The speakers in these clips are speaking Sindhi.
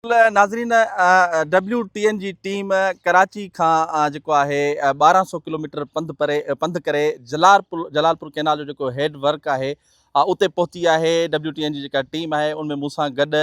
ناظرين ڊبليو ٽي اين جي ٽيم ڪراچي کان جيڪو آهي ٻارهن سو ڪلوميٽر پنڌ پري پنڌ ڪري جلال پور جلال پور ڪينال جو جيڪو هيڊ ورڪ آهي اتي پهتي آهي ڊبليو ٽي اين جي جيڪا ٽيم آهي ان ۾ مون سان گڏ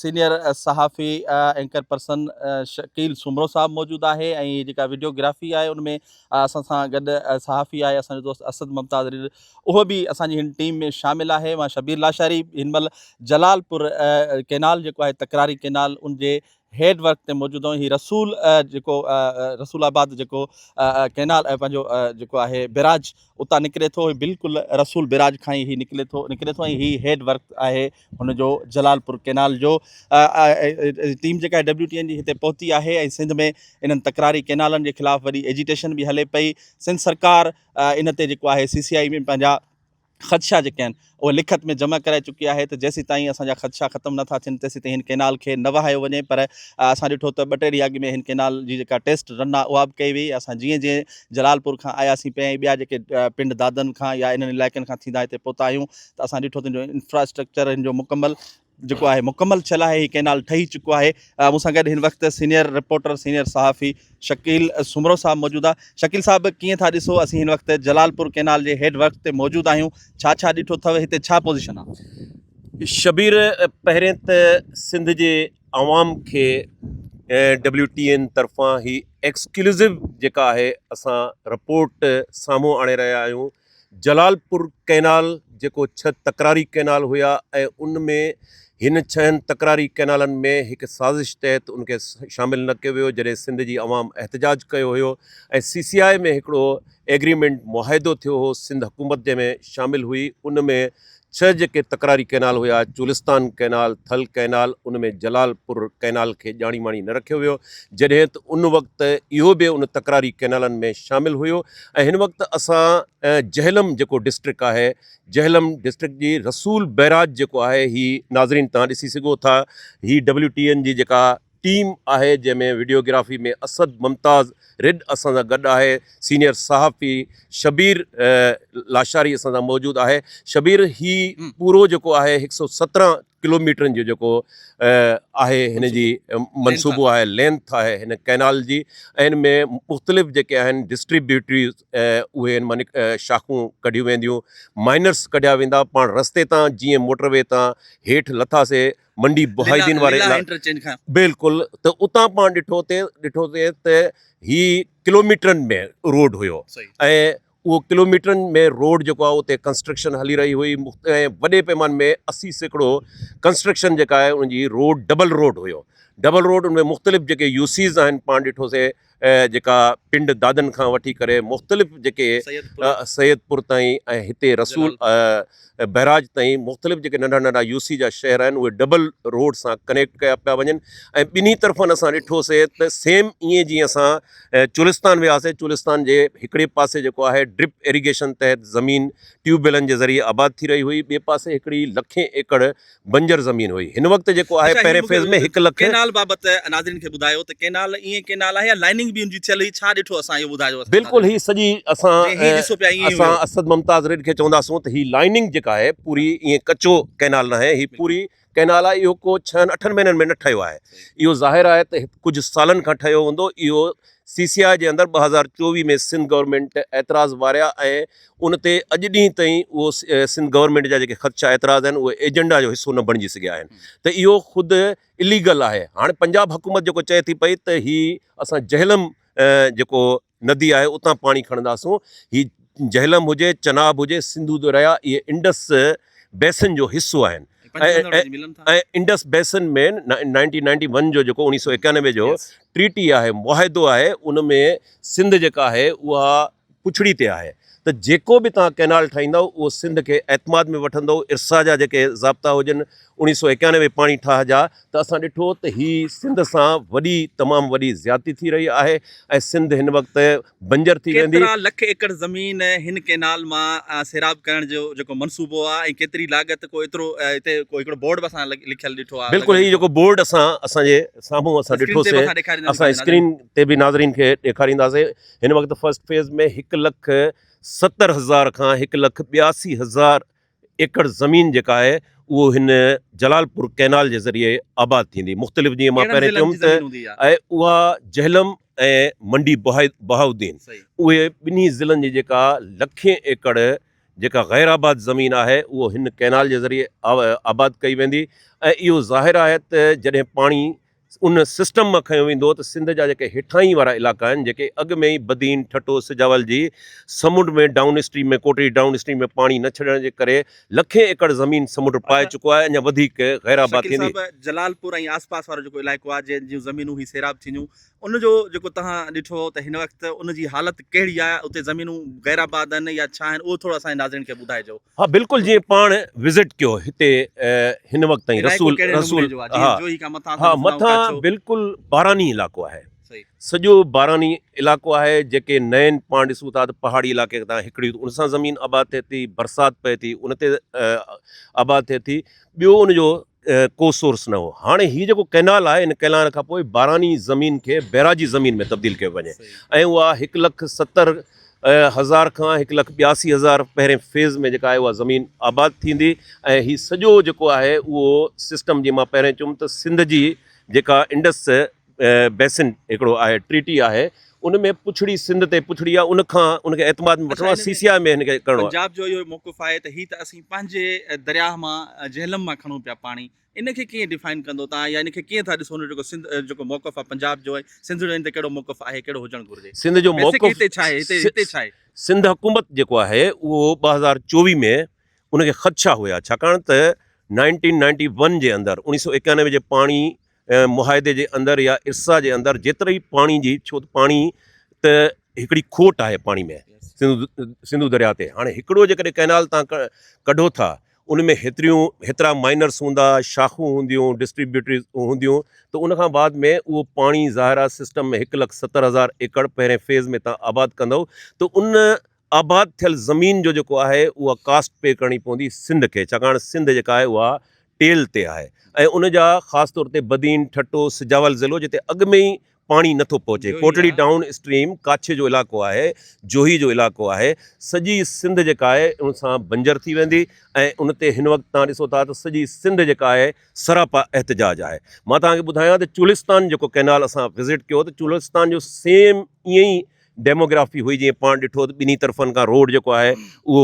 سينيئر صحافي اينڪر پرسن شڪيل سومرو صاحب موجود آهي ۽ جيڪا ويڊيوگرافي آهي ان ۾ اسان سان گڏ صحافي آهي اسان جو دوست اسد ممتاز اهو به اسان جي هن ٽيم ۾ شامل آهي مان شبير لاشاري هن مهل جلال پور ڪينال جيڪو آهي تڪراري ڪينال ان جي هيڊ ورڪ تي موجود آهيون هي رسول جيڪو رسول آباد جيڪو ڪينال پنهنجو جيڪو آهي بيراج اتان نڪري ٿو بلڪل رسول بيراج کان هي نڪري ٿو نڪري ٿو هي هيڊ ورڪ آهي هن جو جلال پور ڪينال جو ٽيم جيڪا ڊبليو ٽي اين جي هتي پهتي آهي سنڌ ۾ انهن تڪراري ڪينالن جي خلاف وڏي ايجيٽيشن به هلي پئي سنڌ سرڪار ان تي جيڪو آهي سي سي آئي ۾ پنهنجا خدشا جيڪي آهن اهي لکت ۾ جمع ڪرائي چڪي آهي ته جيسين تائين اسان جا خدشا ختم نٿا ٿين تيسين تائين هن ڪينال کي نه وهايو وڃي پر اسان ڏٺو ته ٻه ٽي ڏينهن اڳ ۾ هن ڪينال جي جيڪا ٽيسٽ رن آهي اها به ڪئي وئي اسان جيئن جيئن جلال پور کان آياسين پئي ۽ ٻيا جيڪي پنڊ دادن کان يا انهن علائقن کان ٿيندا هتي پهتا آهيون ته اسان ڏٺو ته انفراسٽرڪچر هن جو مڪمل جيڪو آهي مڪمل ٿيل آهي هي ڪئنال ٺهي چڪو آهي مون سان گڏ هن وقت سينئر رپورٽر سينئر صحافي شڪيل سومرو صاحب موجود آ شڪيل صاحب ڪيئن ٿا ڏسو اسين هن وقت جلال پور ڪئنال جي هيڊ ورڪ تي موجود آهيون ڇا ڇا ڏٺو اٿو هتي ڇا پوزيشن آ شبير پهرين ته سنڌ جي عوام کي ڊبليو ٽي اين طرفان هي ايڪسڪلوزو جيڪا آهي اسان رپورٽ سامهون آڻي رهيا آهيون جلال پور ڪئنال جيڪو ڇهه تڪراري ڪئنال هيا ۽ ان ۾ هن ڇهن تڪراري ڪئنالن ۾ هڪ سازش تحت ان کي شامل نه ڪيو ويو جڏهن سنڌ جي عوام احتجاج ڪيو هيو ۽ سي سي آء ۾ هڪڙو ايگريمينٽ معاهدو ٿيو هو سنڌ حڪومت جنهن ۾ شامل هئي ان ۾ ڇهه جيڪي تڪراري ڪئنال هيا، چولستان ڪئنال، ٿل ڪئنال، ان ۾ جلال پور ڪئنال کي ڄاڻي ماڻي نه رکيو ويو، جڏهن ته ان وقت اهو به ان تڪراري ڪئنالن ۾ شامل هيو ۽ هن وقت اسان جهلم جيڪو ڊسٽرڪٽ آهي، جهلم ڊسٽرڪٽ جي رسول بئراج جيڪو آهي هي ناظرين توهان ڏسي سگهو ٿا، هي ڊبليو ٽي اين جي جيڪا ٽيم آهي جنهن ۾ وڊيوگرافي ۾ اسد ممتاز ريڊ اسان سان گڏ آهي سينيئر صحافي شبير لاشاري اسان سان موجود آهي شبير هي پورو جيڪو آهي هڪ سو سترهن ڪلوميٽرن جو جيڪو آهي هن جي منصوبو آهي لينٿ آهي هن ڪئنال جي ۽ هن ۾ مختلف جيڪي آهن ڊسٽريبيوٽريز اهي هن مان شاخون ڪڍيون وينديون مائنرس ڪڍيا ويندا پاڻ رستي تان جيئن موٽر وي تان هيٺ لٿاسي منڊي بهايدين واري ليلا علائقي انٽرچينج کان بلڪل ته اتان پاڻ ڏٺو تي ڏٺو تي ته هي ڪلوميٽرن ۾ روڊ هيو صحيح ۽ اهو ڪلوميٽرن ۾ روڊ جيڪو آهي اتي ڪنسٽرڪشن هلي رهي هئي مخت- ۽ وڏي پيمان ۾ اسي سيڪڙو ڪنسٽرڪشن جيڪا آهي ان جي روڊ ڊبل روڊ هيو ڊبل روڊ ان ۾ مختلف جيڪي يوسيز آهن پاڻ ڏٺوسي جيڪا پنڊ دادن کان وٺي ڪري مختلف جيڪي سيد پور تائين ۽ هتي رسول بئراج تائين مختلف جيڪي ننڍا ننڍا يو سي جا شهر آهن اهي ڊبل روڊ سان ڪنيڪٽ ڪيا پيا وڃن ۽ ٻنهي طرفن اسان ڏٺوسي ته سيم ائين جيئن اسان چولستان وياسي چولستان جي هڪڙي پاسي جيڪو آهي ڊرپ ايريگيشن تحت زمين ٽيوب ويلن جي ذريعي آباد ٿي رهي هئي ٻئي پاسي هڪڙي لکين ايڪڙ بنجر زمين هئي هن وقت جيڪو آهي پهرين فيز ۾ هڪ لک ڪينال بابت ناظرين کي ٻڌايو ته ڪينال ائين ڪينال آهي يا لائننگ به ان جي ٿيل هئي ڇا ڏٺو اسان اهو ٻڌايو بلڪل هي سڄي اسان اسان اسد ممتاز ريڊ کي چونداسون ته هي لائننگ جيڪا آهي پوري ائين ڪچو ڪينال نه آهي هي پوري ڪينال آهي اهو ڪو ڇهن اٺن مهينن ۾ نه ٺهيو آهي اهو ظاهر آهي ته ڪجهه سالن کان ٺهيو هوندو اهو سی سي آء جي اندر ٻه هزار چوويهه ۾ سنڌ گورنمنٽ اعتراض واريا ۽ ان تي اڄ ڏينهن تائين اهو سنڌ گورنمينٽ جا جيڪي خدشا اعتراض آهن اهي ايجنڊا جو حصو نه بڻجي سگهيا آهن ته اهو خود اليگل آهي هاڻ پنجاب حڪومت جيڪو چئي ٿي پئي ته هي اسان جهلم جيڪو ندي آهي اتان پاڻي کڻنداسون هي جهلم هجي چناب هجي سنڌو دريا اهي انڊس بيسن جو حصو آهن Indus basin ۾ nineteen ninety one جو جيڪو اڻيهه سو اڪيانوي جو ٽريٽي آهي معاهدو آهي ان ۾ سنڌ جيڪا آهي اها پڇڙي تي آهي ته جيڪو به توهان ڪئنال ٺاهيندؤ اهو سنڌ کي اعتماد ۾ وٺندو ارسا جا جيڪي ضابطا هجن اوڻيهه سؤ ايڪانوي پاڻي ٺاهه جا ته اسان ڏٺو ته هي سنڌ سان وڏي تمام وڏي زيادتي ٿي رهي آهي ۽ سنڌ هن وقت بنجر ٿي ويندي. ڪيترا لک ايڪڙ زمين هن ڪئنال مان سيراب ڪرڻ جو جيڪو منصوبو آهي ۽ ڪيتري لاڳت ڪو ايترو هتي ڪو هڪڙو بورڊ به اسان لکيل ڏٺو آهي. بلڪل هي جيڪو بورڊ اسان اسان جي سامهون اسان ڏٺو سي اسان اسڪرين تي به ناظرين کي ڏيکارينداسين هن وقت فرسٽ فيز ۾ هڪ لک ستر هزار کان هڪ لک ٻياسي هزار ايڪڙ زمين جيڪا آهي اهو هن جلال پور ڪئنال جي ذريعي آباد ٿيندي مختلف جيئن مان پهرين چيم ته اها جهلم ۽ منڊي بهاؤدين اهي ٻنهي ضلعن جي جيڪا لکين ايڪڙ جيڪا غير آباد زمين آهي اهو هن ڪئنال جي ذريعي آباد ڪئي ويندي ۽ اهو ظاهر آهي ته جڏهن پاڻي ان سسٽم مان کنيو ويندو ته سنڌ جا جيڪي هيٺاهين وارا علائقا آهن جيڪي اڳ ۾ ئي بدين، ٺٽو، سجاول جي سمنڊ ۾ downstream ۾ Kotri downstream ۾ پاڻي نه ڇڏڻ جي ڪري لکين ايڪڙ زمين سمنڊ پائي چڪو آهي اڃا وڌيڪ غير آباد شڪيل ٿيندي. صاحب جلال پور ۽ آس پاس وارو جيڪو علائقو آهي جنهن جون زمينون هي سيراب ٿينديون ان جو جيڪو تهان ڏٺو ته هن وقت ان جي حالت ڪهڙي آهي اتي زمينون غير آباد آهن يا ڇا آهن اهو ٿورو اسان جي ناظرين کي ٻڌائجو. ها بلڪل جيئن پاڻ وزٽ ڪيو هتي هن وقت تائين رسول رسول ها مٿان بلڪل باراني علائقو آهي سڄو باراني علائقو آهي جيڪي نئين پاڻ ڏسو ٿا ته پهاڙي علائقي تان هڪڙي ان سان زمين آباد ٿئي ٿي برسات پئي ٿي ان تي آباد ٿئي ٿي ٻيو ان جو ڪو سورس نه هو هاڻي هي جيڪو ڪئنال آهي ان ڪئنال کان پوء باراني زمين کي بئراجي زمين ۾ تبديل ڪيو وڃي ۽ اها هڪ لک ستر هزار کان هڪ لک ٻياسي هزار پهرين فيز ۾ جيڪا آهي اها زمين آباد ٿيندي ۽ هي سڄو جيڪو آهي اهو سسٽم جي مان پهرين چيم ته سنڌ جي جيڪا انڊس بيسن هڪڙو آهي ٽريٽي آهي ان ۾ پڇڙي سنڌ تي پڇڙي آهي ان کان ان کي اعتماد ۾ وٺڻو آهي سي سي آء ۾ هن کي ڪرڻو آهي پنجاب جو اهو موقف آهي ته هي ته اسين پنهنجي درياهه مان جهلم مان کڻون پيا پاڻي ان کي ڪيئن ڊيفائن ڪندو تان يا ان کي ڪيئن ٿا ڏسو جيڪو سنڌ جيڪو موقف آهي پنجاب جو سنڌ جو ان تي ڪهڙو موقف آهي ڪهڙو هجڻ گهرجي سنڌ جو موقف هتي ڇا آهي هتي هتي ڇا آهي سنڌ حڪومت جيڪو آهي اهو ٻه هزار چوويهه ۾ ان کي خدشا هيا ڇاڪاڻ ته نائنٽين نائنٽي ون جي اندر اڻيهه سو ايڪانوي جي پاڻي ۽ معاهدي جي اندر يا ارسا جي اندر جيتري ئي پاڻي جي ڇو ته پاڻي ته هڪڙي کوٽ آهي پاڻي ۾ سنڌو درياء تي هاڻي هڪڙو جيڪڏهن ڪئنال تان ڪڍو ٿا ان ۾ هيتريون هيترا مائنرس هوندا شاخون هونديون ڊسٽريبيوٽري هونديون ته ان کان بعد ۾ اهو پاڻي ظاهر آهي سسٽم ۾ هڪ لک ستر هزار ايڪڙ پهرين فيز ۾ تان آباد ڪندو ته ان آباد ٿيل زمين جو جيڪو آهي اها ڪاسٽ پي ڪرڻي پوندي سنڌ کي ڇاڪاڻ سنڌ جيڪا آهي اها ٽيل تي آهي ۽ ان جا خاص طور تي بدين، ٺٽو، سجاول ضلعو جتي اڳ ۾ ئي پاڻي نه ٿو پهچي، ڪوٽڙي ڊائون اسٽريم، ڪاڇي جو علائقو آهي، جوهي جو علائقو آهي، سڄي سنڌ جيڪا آهي ان سان بنجر ٿي ويندي ۽ ان تي هن وقت توهان ڏسو ٿا ته سڄي سنڌ جيڪا آهي سراپا احتجاج آهي. مان توهان کي ٻڌايان ته چولستان جيڪو ڪئنال اسان وزٽ ڪيو ته چولستان جو سيم ائين ئي ڊيموگرافي هئي جيئن پاڻ ڏٺو ته ٻنهي طرفن کان روڊ جيڪو آهي اهو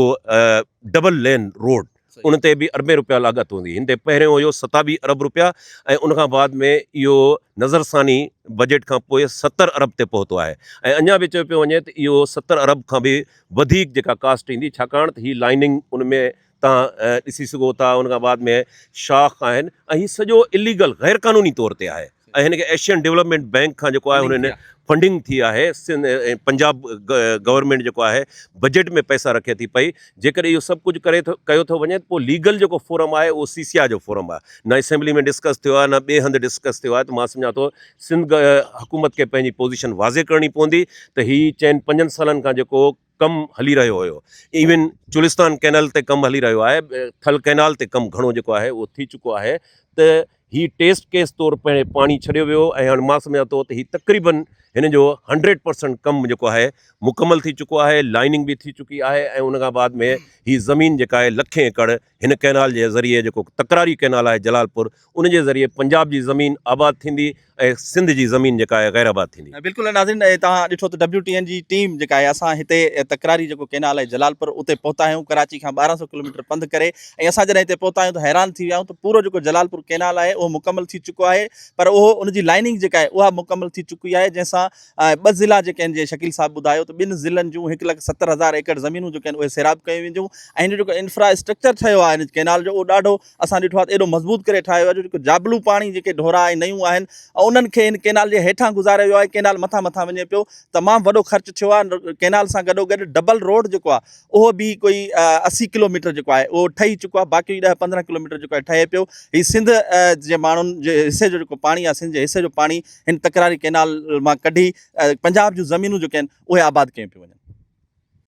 ڊبل لين روڊ ان تي به اربين روپيا لاڳت هوندي هن تي پهريون هيو ستاويهه ارب روپيا ۽ ان کان بعد ۾ اهو نظر ثاني بجيٽ کان پوء ستر ارب تي پهتو آهي ۽ اڃا به چيو پيو وڃي ته اهو ستر ارب کان به وڌيڪ جيڪا ڪاسٽ ايندي ڇاڪاڻ ته هي لائننگ ان ۾ توهان ڏسي سگهو ٿا ان کان بعد ۾ شاخ آهن ۽ هي سڄو اليگل غير قانوني طور تي آهي ۽ هن کي ايشين ڊيولپمينٽ بينڪ کان جيڪو آهي هن فنڊنگ ٿي آهي پنجاب گورنمينٽ جيڪو آهي بجيٽ ۾ پئسا رکي ٿي پئي جيڪڏهن اهو سڀ ڪجهه ڪري ٿو ڪيو ٿو وڃي ته پوء ليگل جيڪو فورم آهي اهو سي سي آء جو فورم آهي نه اسيمبلي ۾ ڊسڪس ٿيو آهي نه ٻئي هنڌ ڊسڪس ٿيو آهي ته مان سمجهان ٿو سنڌ حڪومت کي پنهنجي پوزيشن واضح ڪرڻي پوندي ته هي چئن پنجن سالن کان جيڪو ڪم هلي رهيو هيو ايون چولستان ڪينل تي ڪم هلي رهيو آهي ٿل ڪينال تي ڪم گهڻو جيڪو آهي اهو ٿي چڪو آهي ته هي ٽيسٽ ڪيس طور پهرين پاڻي ڇڏيو ويو ۽ هاڻي مان سمجهان ٿو ته هي تقريبا هن جو هنڊريڊ پرسنٽ ڪم جيڪو آهي مڪمل ٿي چڪو آهي لائننگ به ٿي چڪي آهي ۽ ان کان بعد ۾ هي زمين جيڪا آهي لکين ايڪڙ هن ڪئنال جي ذريعي جيڪو تڪراري ڪئنال آهي جلال پور ان جي ذريعي پنجاب جي زمين آباد ٿيندي ۽ سنڌ جي زمين جيڪا آهي غير آباد ٿيندي. بلڪل ناظرين توهان ڏٺو ته ڊبليو ٽي اين جي ٽيم جيڪا آهي اسان هتي تڪراري جيڪو ڪئنال آهي جلال پور اتي پهتا آهيون ڪراچي کان ٻارهن سو ڪلوميٽر پنڌ ڪري ۽ اسان جڏهن هتي پهتا آهيون ته حيران ٿي ويا آهيون ته پورو جيڪو جلال پور ڪئنال آهي اهو مڪمل ٿي چڪو آهي پر اهو ان جي لائننگ جيڪا آهي اها مڪمل ٿي چڪي آهي جنهن سان ۽ ٻه ضلعا جيڪي آهن جيئن شڪيل صاحب ٻڌايو ته ٻن ضلعن جون هڪ لک ستر هزار ايڪڙ زمينون جيڪي آهن اهي سيراب ڪيون وينديون ۽ هن جو جيڪو انفرا اسٽرڪچر ٺهيو آهي هن ڪينال جو اهو ڏاڍو اسان ڏٺو آهي ته ايڏو مضبوط ڪري ٺاهيو ويو آهي جو جيڪو جابلو پاڻي جيڪي ڍورا ۽ نيون آهن انهن کي هن ڪينال جي هيٺان گذاريو ويو آهي ڪينال مٿان مٿان وڃي پيو تمام وڏو خرچ ٿيو آهي ڪينال سان گڏو گڏ ڊبل روڊ جيڪو آهي اهو به ڪوئي اسي ڪلوميٽر جيڪو آهي اهو ٺهي چڪو آهي باقي ڏهه پندرهن ڪلوميٽر جيڪو آهي ٺهي پيو هي سنڌ جي ماڻهن جي حصي جو جيڪو پاڻي آهي سنڌ جي حصي جو پاڻي هن تڪراري ڪئنال مان ڪڍي پنجاب جون زمينون جيڪي آهن اهي آباد ڪيون پيون وڃن.